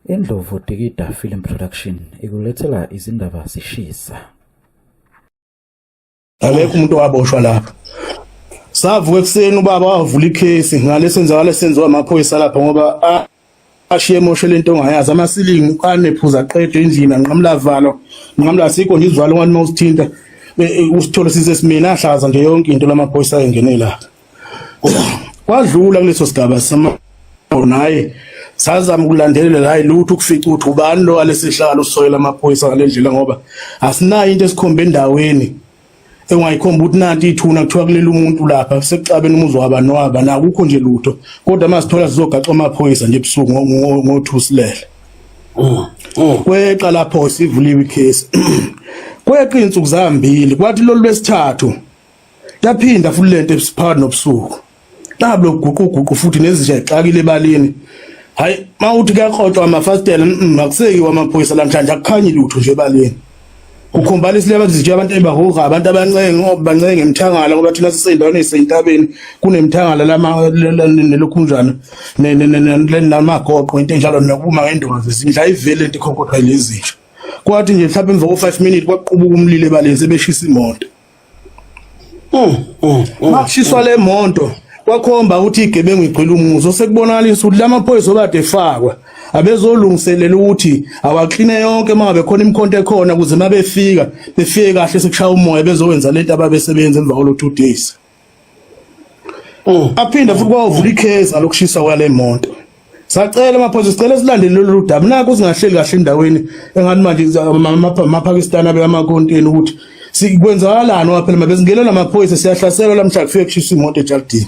Indlovu Dikida Film Production ikulethela izindaba zishisa. Akekho umuntu owaboshwa lapha. Savuka ekuseni ubaba wavula ikhesi ngale senzakala senziwa amaphoyisa lapha ngoba ashiye emoshe lento ongayazi amasilingi anephuza qedwe endlini anqamula valo nqamula sikho nje izivalo ngani mawusithinta e, e, usithole sisesimina ahlaza nje yonke into lamaphoyisa engenela kwadlula kuleso sigaba sama naye sazama ukulandelela hayi lutho ukufica ukuthi ubani lo alesihlalo usoyela amaphoyisa ngalendlela ngoba asinayo into esikhomba endaweni engayikhomba ukuthi nanti ithuna kuthiwa kulele umuntu lapha sekuxabene umuzi wabani waba nakukho nje lutho kodwa masithola sizogaxa amaphoyisa nje ebusuku ngothusilele mm, mm. kweqa lapho sivuliwe icase kweqa insuku zambili kwathi lolu lwesithathu yaphinda futhi lento ebisiphakathi nobusuku nabo loguquguqu futhi nezinja ixakile ebalini hayi mawuthi kuyakrotshwa amafasitela akusekiwa amaphoyisa namhlanje akukhanyi lutho nje ebalini ukhombala isileba kuzitshe abantu ebahoga abantu abancenge obancenge emthangala ngoba thina sisendaweni esentabeni kunemthangala lama nelokhunjana namagoqo into enjalo nokuma ngendondo zindla ivele into ikhonkotha lezitshe kwathi nje mhlawumbe emva ko 5 minutes kwaqubuka umlilo ebaleni sebeshisa imoto Uh, uh, uh, Makushiswa le monto kwakhomba ukuthi igebengu igcwele umuzi osekubonakalisa ukuthi lamaphoyisa obade efakwa abezolungiselela ukuthi awakline yonke uma ngabe khona imikhonto ekhona ukuze uma befika befike kahle sekushaya umoya bezowenza lento ababesebenza emva kwalo two days Mm. aphinde futhi kwawuvula ikhezi alokushisa kwale moto sacela amaphoyisa sicela silandele lolu daba naku singahleli kahle endaweni engathi manje amapakistan abe amakonteni ukuthi sikwenzakalani waphela mabezingena namaphoyisa siyahlaselwa lamhla kufike kushisa imoto ejardini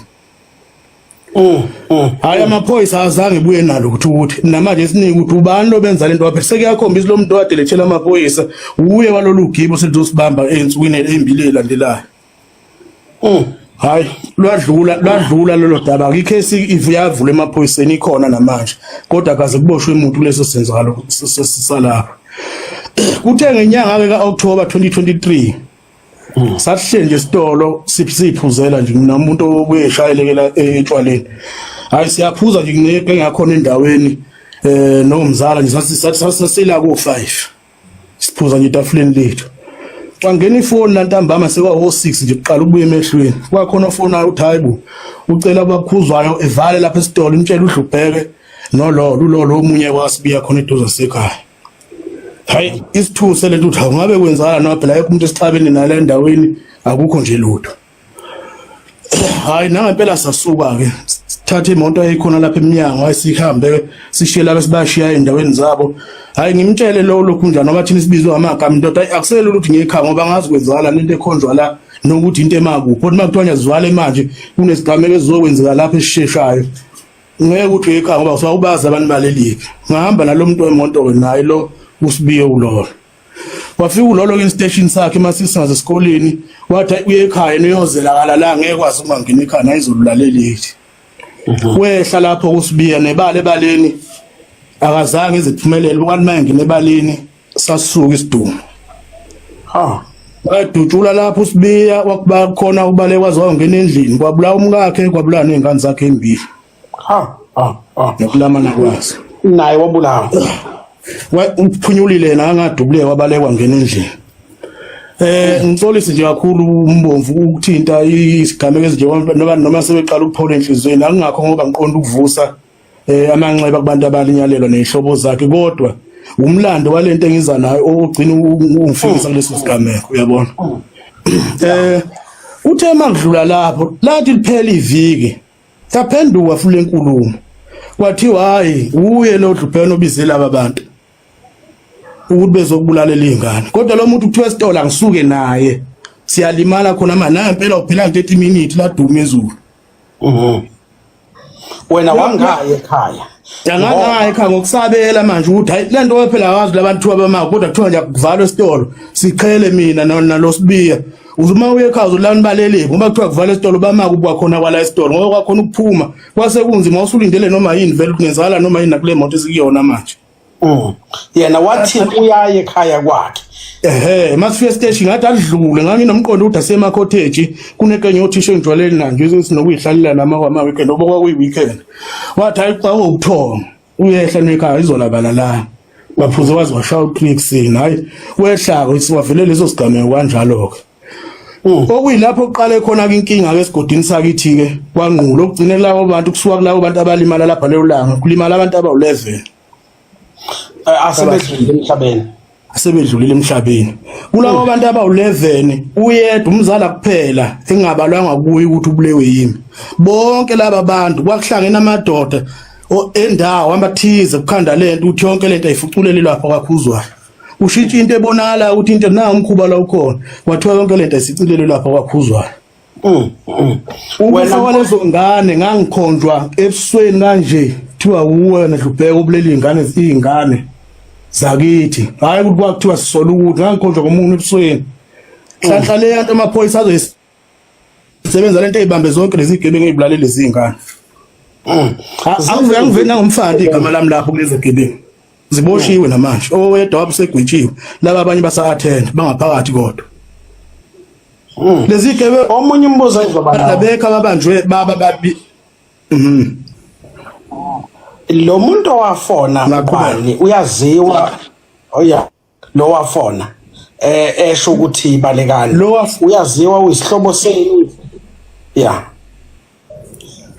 mm, mm, hayi amaphoyisa azange buye nalo ukuthi ukuthi namanje siningi ukuthi ubani lobenza lento waphela sekuyakhombisa lo muntu owadelethela amaphoyisa uye walolu gibo selizosibamba ensukwini embili elandelayo Mm. Hayi lwadlula lwadlula lelo daba ikesi ivuyavula emaphoyiseni ikhona namanje kodwa kaze kuboshwe umuntu leso senzalo sisalapha kuthe ngenyanga ke ka October 2023 mm. sahle nje sitolo siphuzela nje mina umuntu obuyeshayelekela etshwaleni hayi siyaphuza nje ngeke ngakhona endaweni eh nomzala nje sathi sathi sasila ku 5 siphuza nje etafuleni lethu wangena ifoni lantambama sewa wo 6 nje kuqala ubuye emehlweni kwakhona ofona uthi hayibo ucela abakhuzwayo evale lapha esitolo imtshela udlubheke nolo lulolo omunye wasibiya khona eduze sekhaya hayi isithuse lento uthi ngabe kwenzala no phela umuntu esixabene nale ndaweni akukho nje lutho hayi nangempela sasuka ke thatha imoto eyikhona lapha eminyango ayisihambe sishiye laba sibashiya endaweni zabo hayi ngimtshele lo lokhu njani ngoba thina sibizwe ngamagama indoda akuselula ukuthi ngekhaya ngoba ngazi kwenzakala into ekhonjwa la nokuthi into emakuphi kodwa makuthiwa ngiyazivale manje kunesigameko esizokwenzeka lapha esisheshayo ngeke ukuthi ekhaya ngoba usawubazi abantu balelipi ngihamba nalo muntu wemoto ke naye lo usibiye ulolo wafika ulolo instation sakhe masisingaze esikoleni wathi uye ekhaya niyozela la ngeke kwazi uma ngine ekhaya nayizolulaleleli mhm. wehla lapho kusibiya nebale baleni akazange iziphumelele ukanti maye ngine baleni sasuka isidumo ha wadutshula lapho usibiya wakuba khona ubale kwazi wangena endlini kwabulawa umkakhe kwabulawa nezingane zakhe embili ha ha ha nokulamana kwaso naye wabulawa umphunyulile la ngadubuleka wabalekwa ngena endlini eh ngisolisi nje kakhulu umbomvu ukuthinta isigameko ezinje noma noma sebeqala ukuphola enhlizweni akungakho ngoba ngiqonda ukuvusa eh amanxeba kubantu abalinyalelwa nezihlobo zakhe kodwa umlando walento engiza nayo ogcina ungifikisa kuleso sigameko uyabona eh uthe makudlula lapho lathi liphela iviki yaphenduka futhi lenkulumo kwathiwa hayi uye lo dlupheno obize laba bantu ukuthi bezokubulalela izingane kodwa lo muntu kuthiwa esitolo angisuke naye siyalimala khona manje naye impela uphela 30 minutes laduma ezulu mhm. wena wangaye ekhaya Angangayi kha ngokusabela manje ukuthi hayi lento wephela wazi labantu abama kodwa kuthiwa nje kuvalwa isitolo siqhele mina nalosibiya uzuma uye ekhaya uzolani balele ngoba kuthiwa kuvala isitolo bamaka ubuka khona kwala isitolo ngoba kwakhona ukuphuma kwase kunzima usulindele noma yini vele kungenzakala noma yini nakule moto esikuyona manje Mm. yena wathi uyaye ekhaya kwakhe ehe masifika stage ngathi adlule nganginomqondo ukuthi asema cottage kunekenye othisha engijwaleni nanje ukuthi nokuyihlalela nama kwama weekend ngoba kwakuyi weekend wathi hayi xa ukuthonga uyehla nekhaya izolabala la baphuze wazi washaya uclick sin hayi wehlako isiwavele leso sigameko kanjalo ke Mm. okuyilapho kuqale khona ke inkinga ke esigodini sakithi ke kwangqulo okugcine lawo bantu kusuka kulabo bantu abalimala lapha lelo langa kulimala abantu abawu-11 eh, asebedlulile emhlabeni asebedlulile emhlabeni kulabo mm. bantu abawu-11 uyedwa umzala kuphela engabalwanga kuye ukuthi ubulewe yimi bonke laba bantu kwakuhlangene amadoda endawo amathize kukhanda lento ukuthi yonke lento ayifuculele lapha kwakhuzwayo ushintsha into ebonakala ukuthi into na umkhuba la ukhona wathiwa yonke lento isicilelo lapha kwakhuzwayo mm, mm. wena walezo ngane ngangikhonjwa ebusweni kanje kuthiwa wuwe wena dlubheka ubuleli ingane izingane zakithi hayi ukuthi kwakuthiwa sisola ukuthi ngangikhonjwa komuntu ebusweni hlanhla le yanto amaphoyisa azoyis Sebenza lento eyibambe zonke lezi gebengu ezibulalele izingane. Mm. Angivele ngivele nangomfana igama lami lapho kulezi gebengu. Ziboshiwe mm. namanje. Owedwa wabusegwitshiwe. Laba abanye basa attend bangaphakathi kodwa. Mm. Lezi gebe omunye umbuzo ezoba nawo. Labekha babanjwe baba babi. Mhm. Lo muntu owafona ngubani uyaziwa. Oya. Oh, lowafona eh esho ukuthi balekani lo uyaziwa uyisihlobo senu yeah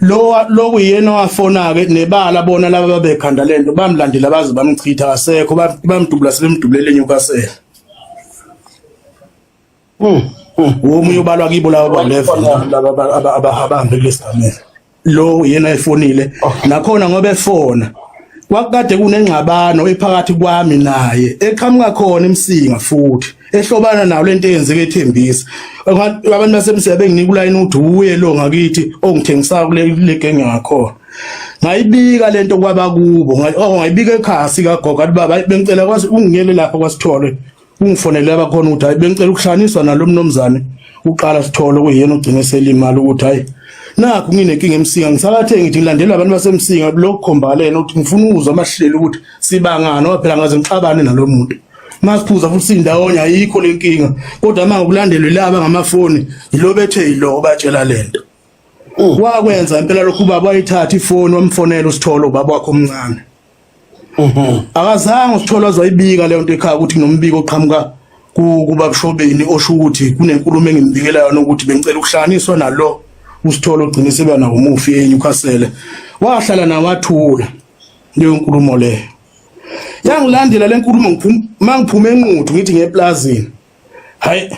lo lokuyena owafona ke nebala bona laba babekhanda lento bamlandela baze bamchitha kasekho bamdubula sebemdubulele enyukasela Hmm. Womunye ubalwa kibo laba ba-11 laba abahambe kulesi gamela. Lo yena efonile oh. nakhona ngoba efona. Kwakade kunengxabano ephakathi kwami naye eqhamuka khona emsinga futhi ehlobana nawo lento eyenzeke ethembisa. Abantu basemsinga benginika ulayini uthi uye lo ngakithi ongithengisayo oh, kule genge ngakhona. ngayibika lento kwabakubo oh, ngayibika ekhasi kagogo athi baba bengicela kwazi ungiyele lapha kwasithole ungifonele abakhona ukuthi hayi bengicela ukuhlanganiswa nalo mnomzane uqala sithole kuyena ogcine selimali ukuthi hayi nakho nginenkinga emsinga ngisakathe ngithi ngilandela abantu basemsinga lokukhombalena ukuthi ngifuna ukuzwa amahlelo ukuthi sibangani ngoba phela ngaze ngixabane nalo muntu masiphuza futhi indawonye ayikho lenkinga kodwa manje ukulandelwe laba ngamafoni yilobethe yilo batshela lento mm. wakwenza impela lokhu ubaba wayithatha ifoni wamfonela usithole ubaba wakho omncane Mhm. Akazange usithole azoyibika leyo nto ekhaya ukuthi nginombiko oqhamuka ku- kubabshobeni osho ukuthi kunenkulumo engimbikela yona ukuthi bengicela ukuhlanganiswa nalo usithole ogcine seba nawo umufi eNewcastle. Wahlala naye wathula leyo nkulumo leyo. Yangilandela le nkulumo ngiphum- mangiphume enquthu ngithi ngeplazini. Hayi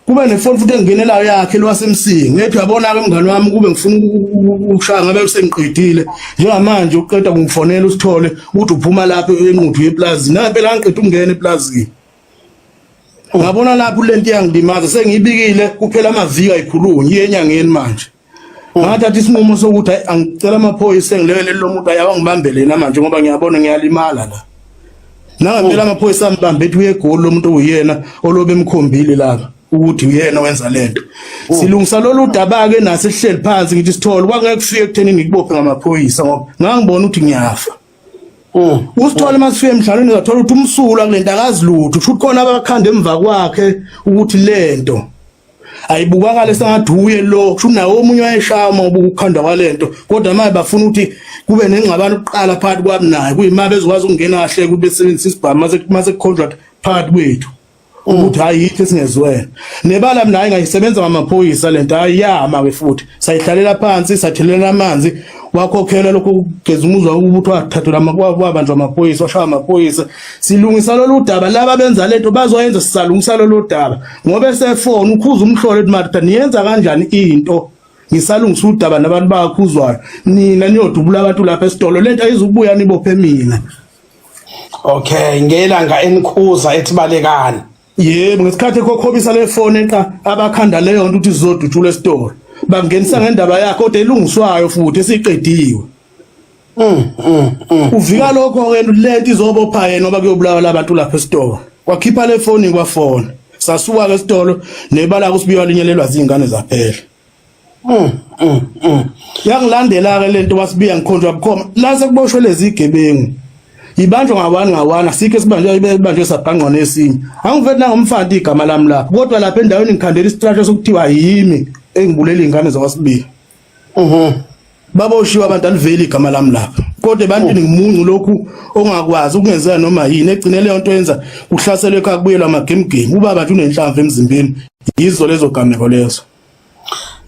kube nefoni futhi engingenelayo yakhe lwasemsingi ngethi uyabona ke mngani wami kube ngifuna ukushaya ngabe usengiqedile njengamanje uqeda kungifonela usithole ukuthi uphuma lapho enquthu yeplazi na phela angiqeda ukungena eplazini ngabona lapho lento iyangilimaza sengiyibikile kuphela amaviki ayikhulunyi iyenyangeni manje ngathatha isinqumo sokuthi hayi angicela amaphoyisa engilekelele lo muntu ayawa ngibambele yena manje ngoba ngiyabona ngiyalimala la nangempela amaphoyisa ambambe ethi uyegoli lo muntu uyena olobe emkhombile laba ukuthi uyena wenza lento oh. silungisa lolu daba ke nase sihleli phansi ngithi sithole kwangeke kufike ekutheni ngikubophe ngamaphoyisa ngoba ngangibona ukuthi ngiyafa oh. usithole masifike emdlalweni ngathola ukuthi umsula kulento akazi lutho kusho ukuthi khona abakhanda emva kwakhe ukuthi lento ayibukakale sengathi uye lo kusho nawo omunye wayeshama ubukukhandwa kwalento kodwa manje bafuna ukuthi kube nengxabano kuqala phakathi kwami naye kuyima bezokwazi ukungena kahle ukuthi besebenzise isibhamu mase mase contract phakathi kwethu ukuthi hayi yithi singezwene nebala mina hayi ngayisebenza ngamaphoyisa lento ayama ke futhi sayihlalela phansi sathelela amanzi wakhokhela lokho kugeza umuzwa ukuthi wathathula amabanjwa amaphoyisa washaya amaphoyisa silungisa lolu daba laba benza lento bazoyenza sisalungisa lolu daba ngoba esefona ukhuza umhlolo ethi Martha niyenza kanjani into ngisalungisa udaba nabantu bakhuzwayo nina niyodubula abantu lapha esitolo lento ayizukubuya nibophe mina okay ngelanga enikhuza ethibalekani yebo ngesikhathi kokhobisa le phone eqa abakhanda leyo nto ukuthi zizodutshula esitolo bangenisa ngendaba yakhe kodwa elungiswayo futhi esiqediwe Mm, mm, mm. Uvika lokho ke lento izobopha yena ngoba kuyobulawa labantu lapha esitolo. Kwakhipha le phone kwafona. Sasuka ke esitolo nebala kusibiwa linyelelwa zingane zaphela. Mm, mm, mm. Yangilandela ke lento wasibiya ngikhonjwa bukhoma. La sekuboshwe lezi gebengu. Ibanjwa ngawani ngawani asikho sibanjwe ibanjwe sabhangqa nesinye. Angivethi nangomfanti igama lami lapha. Kodwa lapha endaweni ngikhandela isitrasho sokuthiwa yimi engibulele ingane zakwasibiya. Mhm. Baba ushiwa abantu aliveli igama lami lapha. Kodwa ebantwini oh. ngimuncu lokhu ongakwazi ukungenzela noma yini egcine leyo nto yenza kuhlaselwe ekhaya kubuyelwa ama game game. Ubaba nje unenhlamvu emzimbeni. Yizo lezo gameko lezo.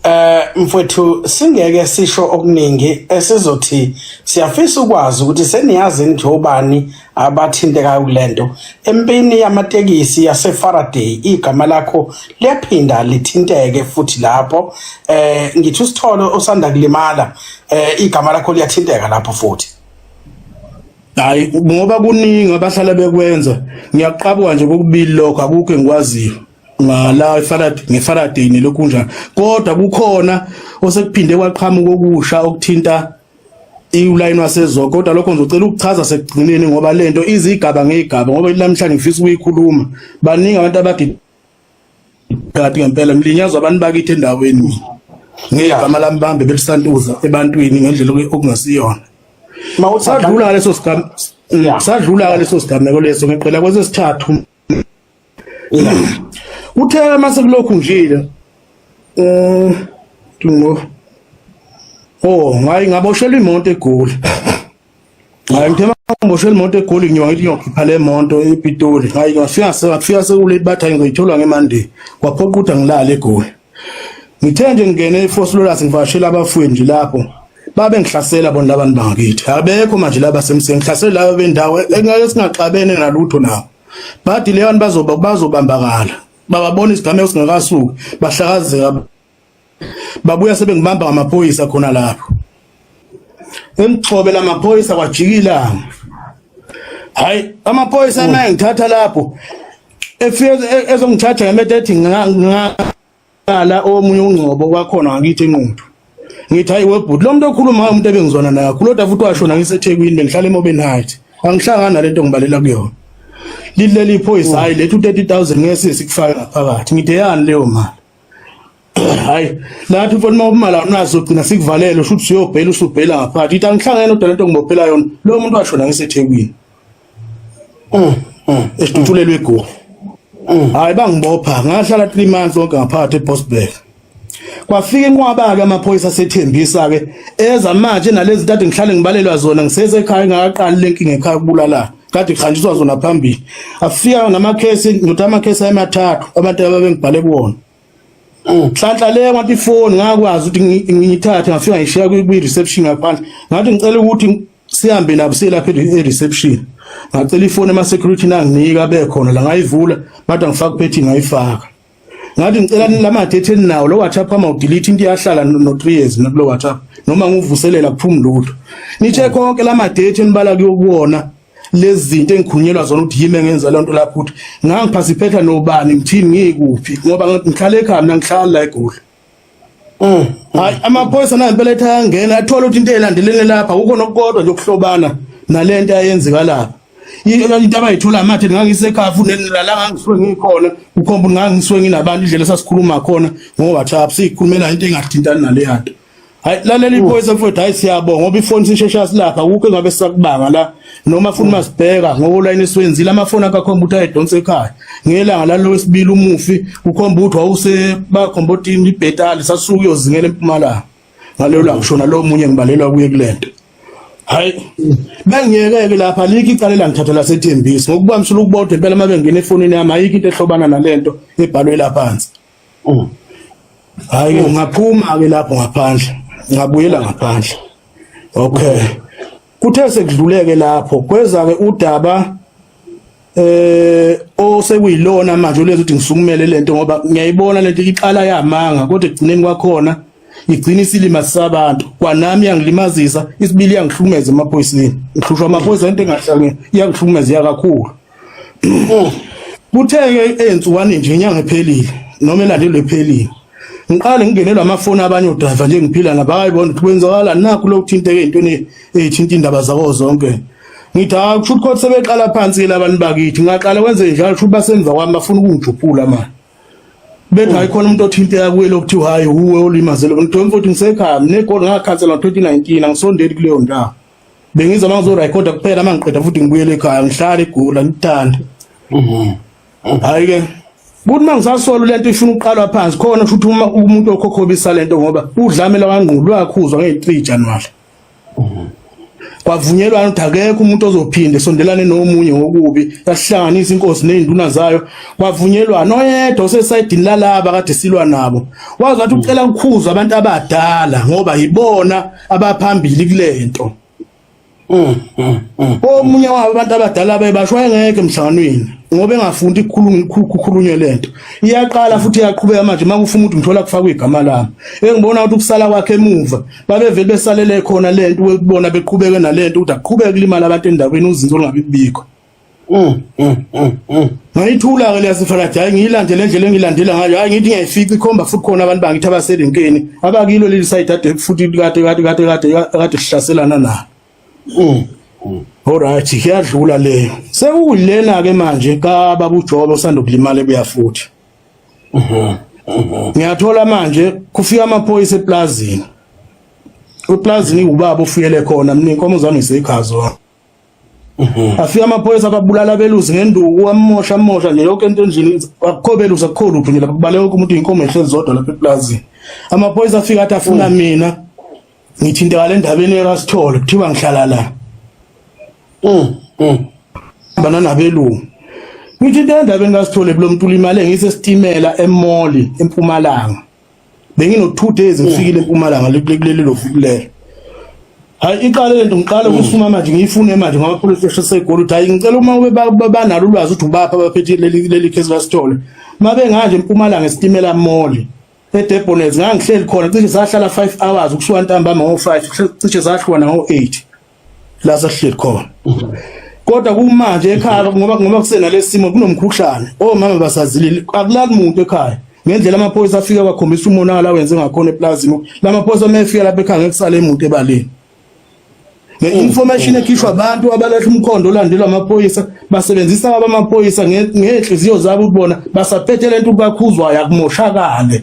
Eh mfowethu singeke sisho okuningi esizothi siyafisa ukwazi ukuthi seniyazi nje obani abathintekayo kule nto empini yamatekisi yasefaraday igama lakho liyaphinda lithinteke futhi lapho eh ngithi usitholo osanda kulimala eh igama lakho liyathinteka lapho futhi hayi ngoba kuningi abahlala bekwenza ngiyaqabuka nje kokubili lokho akukho engikwaziyo ngala iFaraday ngeFaraday nelokhu kunjani kodwa kukhona osekuphinde kwaqhamuka okusha okuthinta iwulayini waseZogo kodwa lokho ngizocela ukuchaza sekugcineni ngoba lento izigaba ngezigaba ngoba namhlanje ngifisa ukuyikhuluma baningi abantu abagidi kanti ngempela ngilinyazwa abantu bakithi endaweni ngegama lami bambe belisantuza ebantwini ngendlela okungasiyona mawusadlula ngaleso sigameko mm, sadlula ngaleso sigameko leso ngiqela kwesesithathu Uthe uma sekulokhu njile eh ngo Oh, ngayi ngaboshela imoto egoli. Hayi ngithe mangiboshela imoto egoli ngiyoba ngithi ngiyokhipha le monto ePitoli. Hayi ngafika ngafika sekulate bathi ngizoyithola ngeMonday. Kwaphoqa ukuthi angilale egoli. ngithe nje ngingene eFoslolus ngivashela abafuyi nje lapho babe ngihlasela bona labantu bangakithi abekho manje laba semseni ngihlasela laba bendawo engeke singaxabene nalutho nabo bathi leyo abantu bazoba bazobambakala bababona isigameko singakasuki bahlakazeka babuya sebengibamba ngamaphoyisa khona lapho Imgxobe lamaphoyisa kwajikila. Hayi amaphoyisa oh. naye ngithatha lapho. Efike e-, ezongithatha ngemethe ethi ngala omunye ungcobo kwakhona ngakithi enquthu. Ngithi hayi webhuti lo muntu okhuluma umuntu ebengizwana naye. Kuloda futhi washona ngiseThekwini bengihlala eMobeni Heights. Angihlangana nalento ngibalela kuyona. Lileli iphoyisa oh. hayi lethu 30000 ngeke sikufaka ngaphakathi. Ngideyani leyo mali? hayi lapho mfana uma ubumala unazo gcina sikuvalele usho ukuthi uyobhela usubhela ngaphakathi ithi angihlangene odwa lento ngibophela yona lo muntu washona ngisethekwini mm, mm, esitutshulelwe egoli mm. hayi bangibopha ngahlala 3 months onke ngaphakathi eBosberg kwafika inqwaba-ke amaphoyisa asethembisa-ke eza manje nalezi ntathu ngihlale ngibalelwa zona ngisesekhaya ngakaqali le nkinga ekhaya kubulalana kade kuhanjiswa zona phambili afika namakhesi ngithi amakhesi amathathu abantu ababengibhale kuwona mm. nhlanhla le ngathi ifoni ngakwazi ukuthi ngiyithathe ngafika ngishiya kwi-reception ngaphandle ngathi ngicela ukuthi sihambe nabo selapha e-reception ngacela ifoni ema-security nanginika bekhona la ngayivula bathi angifaka uphethi ngayifaka ngathi ngicela nilamathe etheni nawo lo WhatsApp ama udelete into iyahlala no 3 years nakulo WhatsApp noma nguvuselela kuphuma lutho nithe konke lamadate enibala kuyokuwona lezinto engikhunyelwa zona ukuthi yimi engenza lento lapho ukuthi ngangiphasiphetha nobani ngithini ngikuphi ngoba ngihlale ekhaya mina ngihlala la eGoli Mm. Hayi amaphoyisa nayo impela ethi ayangena athola ukuthi into elandelene lapha kukho nokukodwa nje ukuhlobana nalento ayenzeka lapha. Into abayithola amathe ngangisekhafu nelala ngangiswe ngikhona ukhomba ngangiswe nginabantu indlela sasikhuluma khona ngo WhatsApp sikhulumela into engathintani naleyanto. Hayi lalela iphoyisa mfowethu hayi siyabonga ngoba ifoni sishesha silapha kukho engabe sakubanga la noma funa masibheka ngokulayini esiwenzile amafoni akakhomba ukuthi ayedonsa ekhaya ngelanga lalo wesibili umufi ukhomba ukuthi wawuse bakhomba ukuthi ibhetali sasuka uyozingela empumalanga ngaleyo la ngishona lo munye ngibalelwa kuye kulento hayi bengiyekeke lapha alikho icala elangithatha lasethembisi ngokuba msula ukubodwa impela uma bengena efonini yami ayikho into ehlobana nalento ebhalwe laphansi Mm. Hayi mm. ngaphuma ke lapho ngaphandle. Ngabuyela ngaphandle. Okay. Kuthe sekudluleke lapho kweza ke udaba eh osekuyilona manje ulenza ukuthi ngisukumele lento ngoba ngiyayibona lento iqala yamanga kodwa egcineni kwakhona igcina isilima sabantu kwanami yangilimazisa isibili yangihlukumeza emaphoyiseni ngihlushwa amaphoyisa into engahlangene yangihlukumeza yakakhulu Oh, kutheke ensukwani nje inyanga ephelile noma elandelwe ephelile ngiqale ngingenelwa amafoni abanye odriver nje ngiphila nabo akayibona ukuthi kwenzakala nakho lokuthinteka ezintweni ezithinta indaba zabo zonke ngithi hayi kusho ukuthi sebeqala phansi ke labantu bakithi ngaqala kwenze njalo kusho basemva kwami bafuna ukungijuphula manje bethi hayi khona umuntu othinteka kuye lokuthiwa hayi uwe olimazele mntwana futhi ngisekhaya negoli ngakhansela ngo-2019 angisondeli kuleyo ndawo bengizwa uma ngizorekhoda kuphela uma ngiqeda futhi ngibuyele ekhaya ngihlale igula ngithanda mhm. hhayi-ke kuthi uma ngisasola le nto ifuna ukuqalwa phansi khona futhi uma umuntu okhokhobisa le nto ngoba udlamela wangqulu lwakhuzwa ngeyi-three januwari mhm. kwavunyelwana ukuthi akekho umuntu ozophinde sondelane nomunye ngokubi yasihlanganisa inkosi nezinduna zayo kwavunyelwana oyedwa osesayidini lalaba kade silwa nabo wazi wathi ucela ukukhuza abantu abadala ngoba yibona abaphambili kulento mm, mm, mm. omunye wabo abantu abadala bebasho engeke emhlanganweni ngoba engafundi kukhulunywe lento iyaqala futhi iyaqhubeka manje uma kufuna ukuthi ngithola kufakwa igama lami engibona ukuthi ukusala kwakhe emuva babevele besalele khona lento ukubona beqhubeke nalento ukuthi aqhubeke kulimala abantu endaweni uzinzo olungabi kubikho Mm, mm, mm, mm. ngayithula-ke leyasifalathi hhayi ngiyilandele endlela engiyilandela ngayo hhayi ngithi ngiyayifica ikhomba futhi khona abantu bangithi abaserenkeni abakilo leli sayidi ade futhi kade kade kade kade kade sihlaselana na mm, mm. olright kuyadlula leyo sekuyilena-ke manje kababa ujobe osanda ukulimala ebuya futhi mm-hmm, mm-hmm. ngiyathola manje kufika amaphoyisa eplazini eplazini iwubaba ofuyele khona mina inkomo zami ngiseyikhazo Mhm. afika amaphoyisa ababulala abelusi ngenduku amosha amosha nje yonke into endlini akukho belusi akukho lutho nje lapha kubaleka wonke umuntu inkomo ehlezi zodwa lapha eplazini amaphoyisa afika athi afuna mhm. mina ngithinteka le ndabeni erasithole kuthiwa ngihlala la mhm. bana nabelungu ngithinte endabeni kasithole kulo mntu ulimale ngisesitimela emoli empumalanga bengino 2 days ngifikile eMpumalanga lekuleli lo fukulelo hayi iqale lento ngiqale mm. ukusuma manje ngiyifune manje ngoba police station segoli uthi hayi ngicela uma ube banalo ulwazi ukuthi ubapha abaphethe leli leli case basithole uma benganje eMpumalanga esitimela moli eDebonets ngangihleli khona cishe sahlala 5 hours ukusuka ntambama ngo 5 cishe sahlwana ngo 8 la sahleli khona kodwa kumanje ekhaya ngoba ngoba kusena lesimo kunomkhuhlane omama oh, basazilile akulali muntu ekhaya ngendlela amaphoyisa afika bakhombisa umonakala wenze ngakhona eplazini lamaphoyisa mefika lapha ekhaya ngekusale emuntu ebaleni nge-information ekhishwa abantu abalahla umkhondo olandelwa amaphoyisa basebenzisa abamaphoyisa ngey'nhliziyo zabo ukubona basaphethe le nto ubakhuzwayo akumoshakale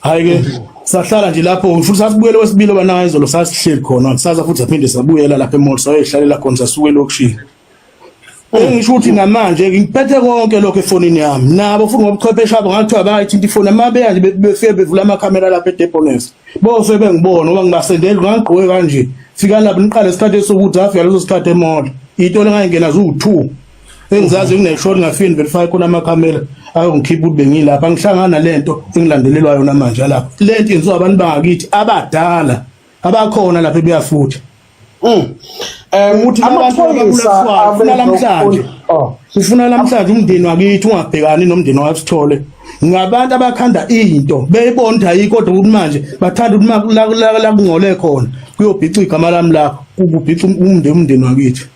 hayi ke sahlala nje lapho futhi sasibuyele wesibili obanayo izolo sasihleli khona kusasa futhi aphinde sabuyela lapha emall sayoyihlalela khona sasuke elokishini engisho ukuthi namanje ngiphethe konke lokho efonini yami nabo futhi ngobuchwepheshe abo ngathiwa bayithinta ifoni uma beya nje befike bevula amakhamera lapha edepones bose bengibona ngoba ngibasendeli ngangigqoke kanje fika lapho niqale isikhathi esokuthi afika leso sikhathi emola iyitolo engayingena ziwu-two engizazi ngineshoni ngafini verify khona amakhamera ayongikhipha ukuthi bengilapha ngihlangana lento engilandelelwa yona manje lapha lento yenziwa abantu bangakithi abadala abakhona lapha ebuyafutha mm um ukuthi amaphoyisa afuna lamhlanje oh. ufuna lamhlanje umndeni wakithi ungabhekani nomndeni wasithole ngabantu abakhanda into beyibonda yikodwa ukuthi manje bathanda ukuthi la kungcole khona kuyobhica igama lami lapho kubhica umndeni umndeni wakithi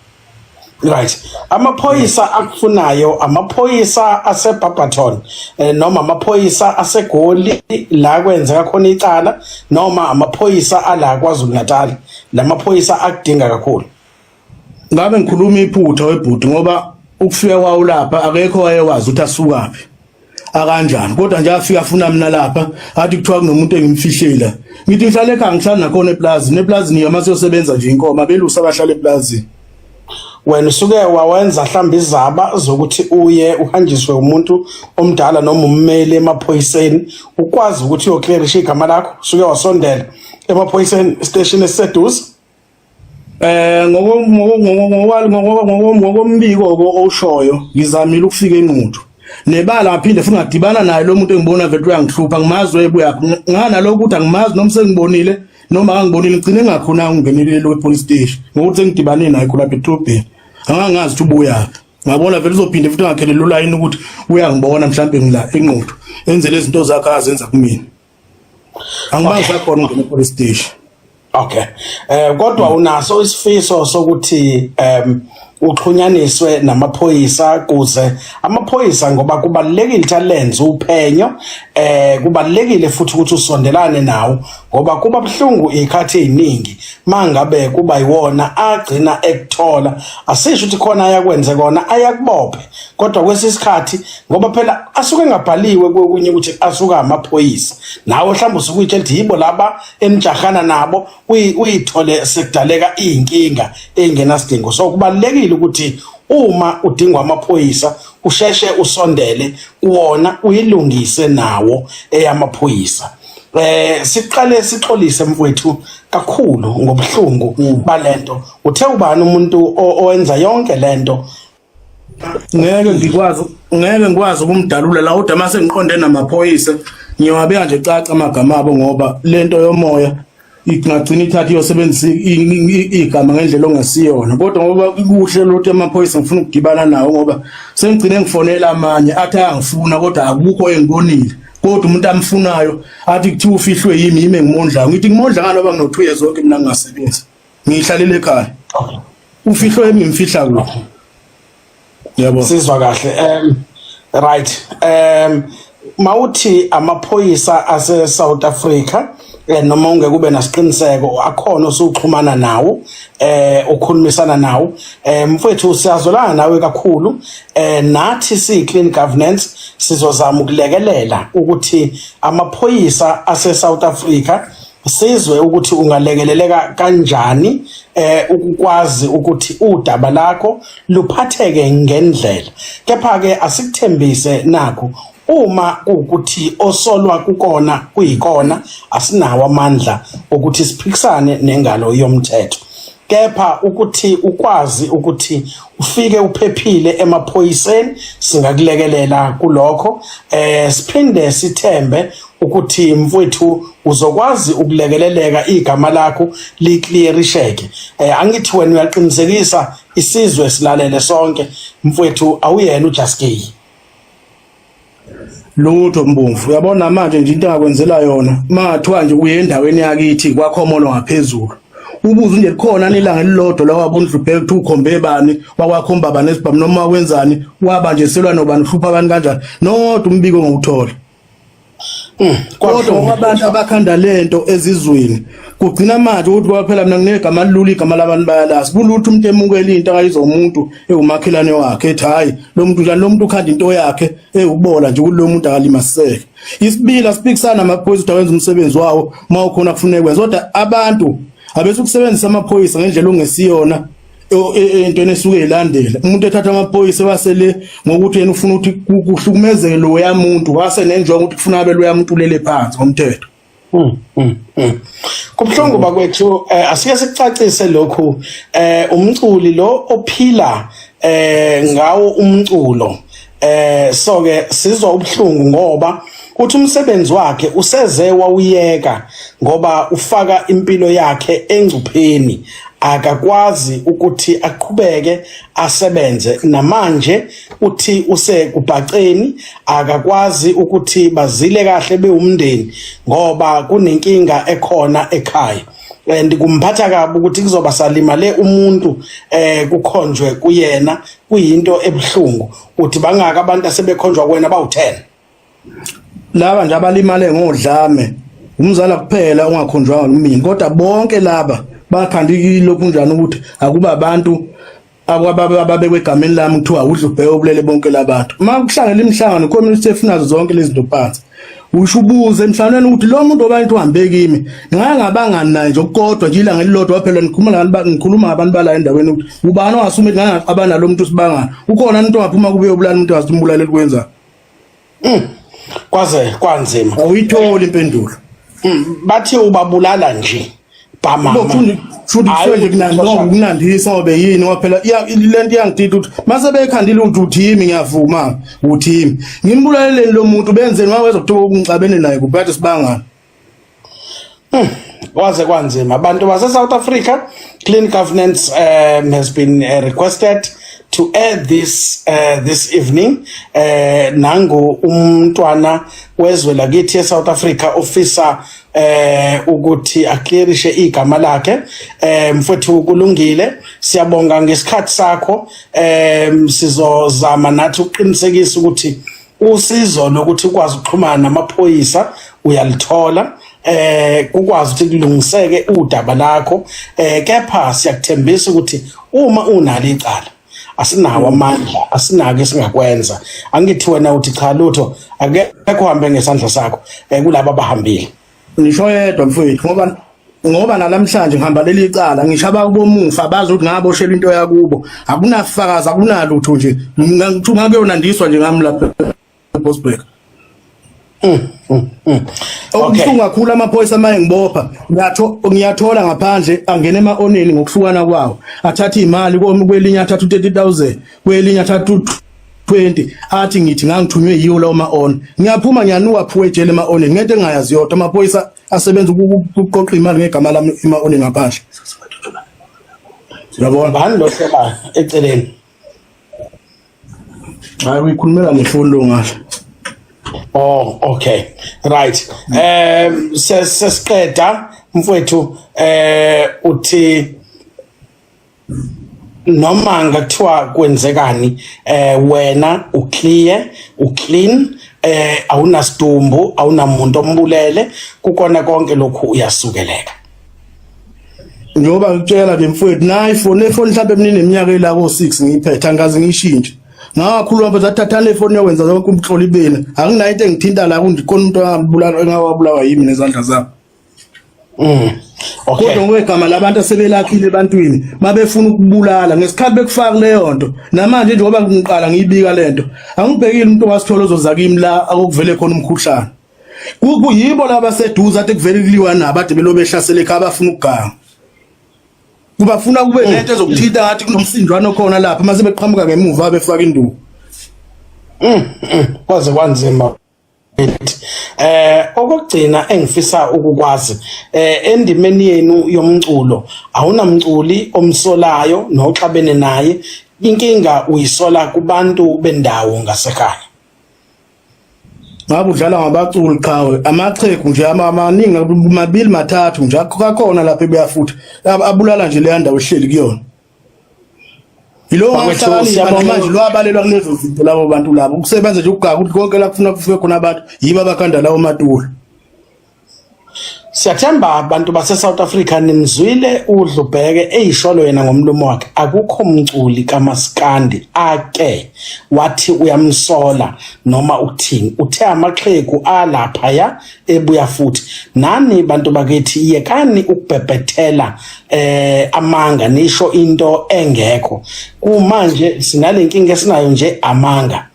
Right. Amaphoyisa akufunayo amaphoyisa aseBarberton eh, noma amaphoyisa aseGoli la kwenzeka khona icala noma amaphoyisa ala kwaZulu Natal lamaphoyisa akudinga kakhulu. Ngabe ngikhuluma iphutha webhuti ngoba ukufika kwawo lapha akekho wayewazi ukuthi asukaphi. akanjani kodwa nje afika afuna mina lapha athi kuthiwa kunomuntu engimfihlela ngithi ngihlale ekhaya ngihlala nakhona eplazini eplazini yama siyosebenza nje inkomo abelusa abahlala eplazini wena usuke wawenza mhlawumbe izaba zokuthi uye uhanjiswe umuntu omdala noma ummeli emaphoyiseni ukwazi ukuthi uyoclearisha igama lakho usuke wasondela emaphoyiseni station esiseduze Eh ngokombiko owushoyo ngizamile ukufika enquthu nebala ngaphinde futhi ngadibana naye lo muntu engibona vele uyangihlupha ngimazi webuya ngana lokho ukuthi angimazi noma sengibonile noma angibonile ngicine ngakhona ngingenelele lo police station ngokuthi sengidibane naye khona bedrobheni angangazi ukuthi ubuya ngabona vele uzophinde futhi ngakhelele ulayini ukuthi uyangbona mhlawumbe ngila enquthu enzele izinto zakhe azenza kumina angibazi sakhona ungena police station okay eh kodwa unaso isifiso sokuthi em uxhunyaniswe namaphoyisa kuze amaphoyisa ngoba kubalekile ukuthi alenze uphenyo eh kubalekile futhi ukuthi usondelane nawo ngoba kuba buhlungu ikhathi eziningi mangabe kuba yiwona agcina ekuthola asisho ukuthi khona ayakwenze kona ayakubophe kodwa kwesisikhathi ngoba phela asuke engabhaliwe kokunye ukuthi asuka amaphoyisa nawe mhlawumbe usuke uyitshela ukuthi yibo laba enijahana nabo uyithole sekudaleka iy'nkinga ey'ngenasidingo so kubalulekile ukuthi uma udingwa amaphoyisa usheshe usondele kuwona uyilungise nawo eyamaphoyisa eh siqale sixolise mfowethu kakhulu ngobuhlungu mm. balento uthe ubani umuntu owenza yonke lento ngeke ngikwazi ngeke ngikwazi ukumdalula la kodwa mase ngiqonde namaphoyisa ngiyowabeka nje caca amagama abo ngoba lento yomoya ingagcina ithatha iyosebenzisa igama ngendlela ongasiyona kodwa ngoba kuhle lothi amaphoyisa ngifuna ukugibana nawo ngoba sengigcine ngifonela amanye athi ayangifuna kodwa akukho engibonile kodwa umuntu amfunayo athi kuthiwa ufihlwe yimi yimi engimondlayo ngithi ngimondla ngani oba ngino-two years oke mina ngingasebenzi ngiyihlalele ekhaya ufihlo yami ngimfihla kuphi yebo sizwa kahle um right um mawuthi amaphoyisa ase South Africa eh, noma ungeke ube nasiqiniseko akhona osuxhumana nawo eh ukhulumisana nawo eh mfowethu siyazolana nawe kakhulu eh nathi si clean governance sizozama ukulekelela ukuthi amaphoyisa ase South Africa sizwe ukuthi ungalekeleleka kanjani eh ukukwazi ukuthi udaba lakho luphatheke ngendlela kepha ke asikuthembise nakho uma ukuthi osolwa kukona kuyikona asinawo amandla ukuthi siphikisane nengalo yomthetho kepha ukuthi ukwazi ukuthi ufike uphephile emaphoyiseni singakulekelela kulokho eh siphinde sithembe ukuthi mfowethu uzokwazi ukulekeleleka igama lakho liclearisheke eh angithi wena uyaqinisekisa isizwe silalele sonke mfowethu awuyena uJaskey lutho mbomvu uyabona manje nje into engakwenzela yona mathiwa nje uye endaweni yakithi kwakhomolo ngaphezulu ubuze nje khona nilanga elilodwa la wabundlubheke kuthi ukhombe bani wakwakhomba bani esibhamu noma wenzani waba nje selwa nobani uhlupha abantu kanjani nodwa umbiko ngokuthola Mm, kodwa abantu abakhanda lento ezizweni kugcina manje ukuthi kwaphela mina nginegama lilula igama labantu bayalazi kulutho umuntu emukela into akayizo umuntu ewumakhelane wakhe ethi hayi lo muntu njani lo muntu ukhanda into yakhe ewubola nje kulo muntu akalimaseke isibila sipikisana amaphoyisa ukuthi awenza umsebenzi wawo uma ukhona kufuneka kwenza kodwa abantu abesukusebenzisa amaphoyisa ngendlela ongesiyona entweni esuke ilandela umuntu ethatha amaphoyisa wasele ngokuthi yena ufuna ukuthi kuhlukumezeke lo yamuntu wase nenjongo ukuthi kufuna abe lo yamuntu ulele phansi ngomthetho hmm, hmm, hmm. Kubhlungu bakwethu eh, asike sicacise lokhu eh umculi lo ophila eh ngawo umculo eh so ke sizwa ubuhlungu ngoba uthi umsebenzi wakhe useze wawuyeka ngoba ufaka impilo yakhe engcupheni akakwazi ukuthi aqhubeke asebenze namanje uthi usekubhaceni akakwazi ukuthi bazile kahle bewumndeni ngoba kunenkinga ekhona ekhaya and kumphatha kabi ukuthi kuzoba salimale umuntu eh kukhonjwe kuyena kuyinto ebuhlungu uthi bangaka abantu asebekhonjwa kuwena bawu-10 laba nje abalimale ngodlame umzala kuphela ongakhonjwanga kumini kodwa bonke laba bakhanda ilokhu njani ukuthi akuba abantu akwabababekwe egameni lami kuthiwa udla ubheke obulele bonke labantu uma kuhlangela imihlangano community efunazo zonke lezi nto phansi usho ubuze emhlanganweni ukuthi lo muntu obantu uhambe kimi ngake ngabangani naye nje okukodwa nje ilanga elilodwa phela ngikhuluma nabantu ngikhuluma ngabantu bala endaweni ukuthi ubani ongasume ngake ngaqabana lo muntu sibangana ukhona umuntu ongaphuma kube ubulala umuntu wazimbulala elikwenza mm. kwaze kwanzima awuyitholi impendulo mm. bathi ubabulala nje kunandisa obe yini waphela le nto iyangidida ukuthi mase bekhandile ukuthi uthimi ngiyavuma uthimi ngimbulaleleni lo muntu benzeni waweza kuthiwa ukungixabene naye kuphathe sibangana hmm, waze kwanzima abantu base-south africa clean governance um, has been uh, requested to air this uh, this evening uh, nangu umntwana wezwe lakithi e-south africa ofisa eh ukuthi aclearishe igama lakhe eh mfowethu kulungile siyabonga ngesikhathi sakho eh sizozama nathi ukuqinisekisa ukuthi usizo lokuthi ukwazi ukuxhumana namaphoyisa uyalithola eh ukwazi ukuthi kulungiseke udaba lakho eh kepha siyakuthembisa ukuthi uma unalo icala asinawo amandla asinako esingakwenza angithi wena uthi cha lutho akekho hambe ngesandla sakho eh, kulabo abahambile ngisho yedwa mfowethu ngoba ngoba nalamhlanje ngihamba leli cala ngishaba ubomufa bazi ukuthi ngaboshelwa into yakubo akunafakazi akunalutho nje ngithuma kuyona ndiswa nje ngami lapha Bosberg mm, mm, mm. okubuhlungu kakhulu amaphoyisa amaye ngibopha ngiyathola ngaphandle angene ema-oneni ngokuhlukana kwawo athathe iy'mali kwelinye athathe u-thirty thousand kwelinye athathe u-twenty athi ngithi ngangithunywe yiwo lawo ma-on ngiyaphuma ngiyanuka phuwe ejele ema-oneni ngento engingayazi yodwa amaphoyisa asebenza ukuqoqa imali ngegama lami ema-oneni ngaphandle uyabona bani lo hlekayo eceleni hayi uyikhulumela nefoni lo ngasho oh okay right um sesiqeda mfowethu eh uthi noma ngathiwa kwenzekani eh wena uclear uclean eh awunasidumbu awunamuntu ombulele kukona konke lokhu uyasukeleka njengoba ngitshela ke mfowethu nayi ifoni efoni mhlawumbe mina neminyaka elako 6 ngiyiphetha ngikaze ngiyishintshe ngakhuluma mfethu athathana ifoni yokwenza zonke umhloli bena anginayo into engithinta la kundikhona umuntu ongabulala engawabulawa yimi nezandla zami mm okay kodwa ngokwegama labantu asebelakhile ebantwini babefuna ukubulala ngesikhathi bekufaka leyo nto namanje njengoba ngiqala ngiyibika lento angibhekile umuntu wasithola ozoza kimi la akuvele khona umkhuhlane kuyibo laba seduze athi kuvele kuliwa nabo ade belobe ehlasele ekhaya bafuna ukuganga kubafuna kube mm. nento ezokuthinta ngathi kunomsindwana okhona lapha mase beqhamuka ngemuva befaka induku mm, mm. kwaze kwanzima eh okugcina engifisa ukukwazi eh endimeni yenu yomculo awunamculi omsolayo noxabene naye inkinga uyisola kubantu bendawo ngasekhaya ngabe udlala ngabaculi qhawe amaqhegu nje amaningi mabili mathathu nje akakhona lapha ebuya futhi abulala nje leya ndawo ehleli kuyona yilowo ngahlakanipha namanje lwabalelwa kulezo zinto labo bantu labo ukusebenza nje ukugaka ukuthi konke la kufuna kufike khona abantu yibo abakhanda lawo matulo Siyathemba bantu base South Africa nimzwile udlubheke eyisholo yena ngomlomo wakhe akukho mculi kamaskandi ake wathi uyamsola noma ukuthini uthe amaxhegu alapha ya ebuya futhi nani bantu bakithi yekani ukubhebhethela eh amanga nisho into engekho kumanje sinalenkinga esinayo nje amanga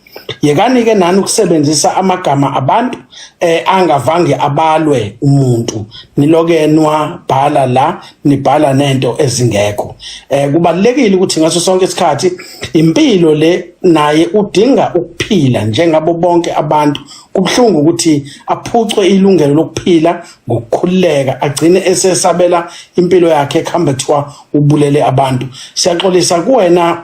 yekanike nani ukusebenzisa amagama abantu eh angavange abalwe umuntu niloke nwa bhala la nibhala nento ezingekho eh kubalekile ukuthi ngaso sonke isikhathi impilo le naye udinga ukuphila njengabo bonke abantu kubhlungu ukuthi aphucwe ilungelo lokuphila ngokukhululeka agcine esesabela impilo yakhe ekhamba kuthiwa ubulele abantu siyaxolisa kuwena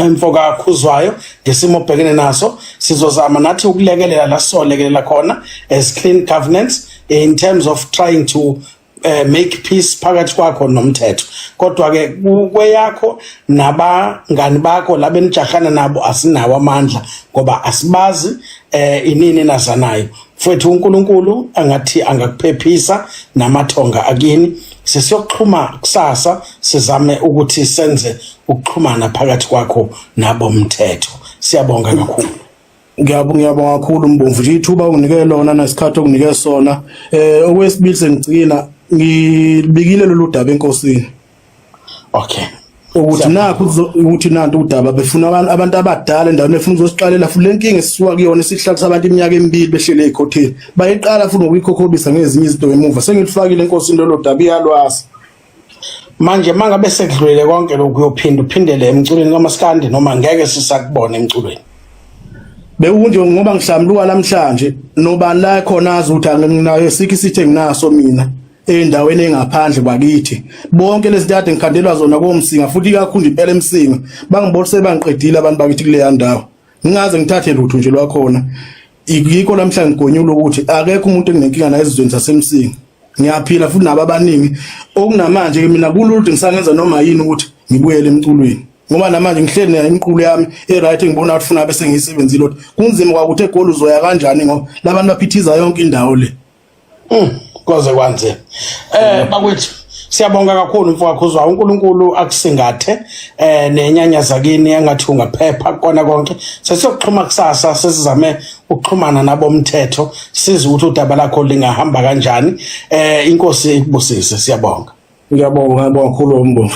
mfoka khuzwayo ngesimo obhekene naso sizozama nathi ukulekelela la solekelela khona as clean governance in terms of trying to uh, make peace phakathi kwakho nomthetho kodwa ke kweyakho nabangani bakho labenijahana nabo asinawo amandla ngoba asibazi eh inini nazanayo Mfowethu uNkulunkulu angathi angakuphephisa namathonga akini. Sesiyoxhuma kusasa sizame ukuthi senze ukuxhumana phakathi kwakho nabo mthetho. Siyabonga kakhulu. Ngiyabonga ngiyabonga kakhulu Mbomvu nje ithuba unginike lona nesikhathi okunike sona. Eh okwesibili sengigcina ngibikile lolu daba enkosini. okay ukuthi nakho ukuthi nanti udaba befuna abantu abantu abadala endaweni efuna uzosiqalela futhi lenkinga esisuka kuyona isihlalo sabantu iminyaka emibili behlele ekhotini bayiqala futhi ngokuyikhokhobisa ngezinye izinto emuva sengilifakile inkosi into lodaba iyalwazi manje mangabe sekudlulele konke lokhu uyophinda uphindele emculweni kamaskandi noma ngeke sisakubona emculweni bekunje ngoba ngihlambuluka namhlanje nobani la khona azi ukuthi anginayo sikhi sithe nginaso mina endaweni engaphandle bakithi bonke lezi dade ngikhandelwa zona komsinga futhi ikakhulu impela emsinga bangibolise bangiqedile abantu bakithi kuleya ndawo ngingaze ngithathe lutho nje lwakhona yikho lamhla ngigonyula ukuthi akekho umuntu enginenkinga naye ezizweni zasemsinga ngiyaphila futhi nabo abaningi okunamanje ke mina kululde ngisangenza noma yini ukuthi ngibuyele emculweni ngoba namanje ngihleli nayo imiqulu yami e-right ngibona ukuthi funa bese ngiyisebenzile ukuthi kunzima kwakuthi egoli uzoya kanjani ngoba labantu baphithiza yonke indawo le Mm, koze kwanzima eh bakwethu siyabonga kakhulu mfowakho uzwa uNkulunkulu akusingathe eh nenyanya zakini engathi ungaphepha kona konke sesiyokuxhuma kusasa sesizame ukuxhumana nabomthetho size ukuthi udaba lakho lingahamba kanjani eh inkosi ikubusise siyabonga ngiyabonga ngiyabonga kakhulu umbongo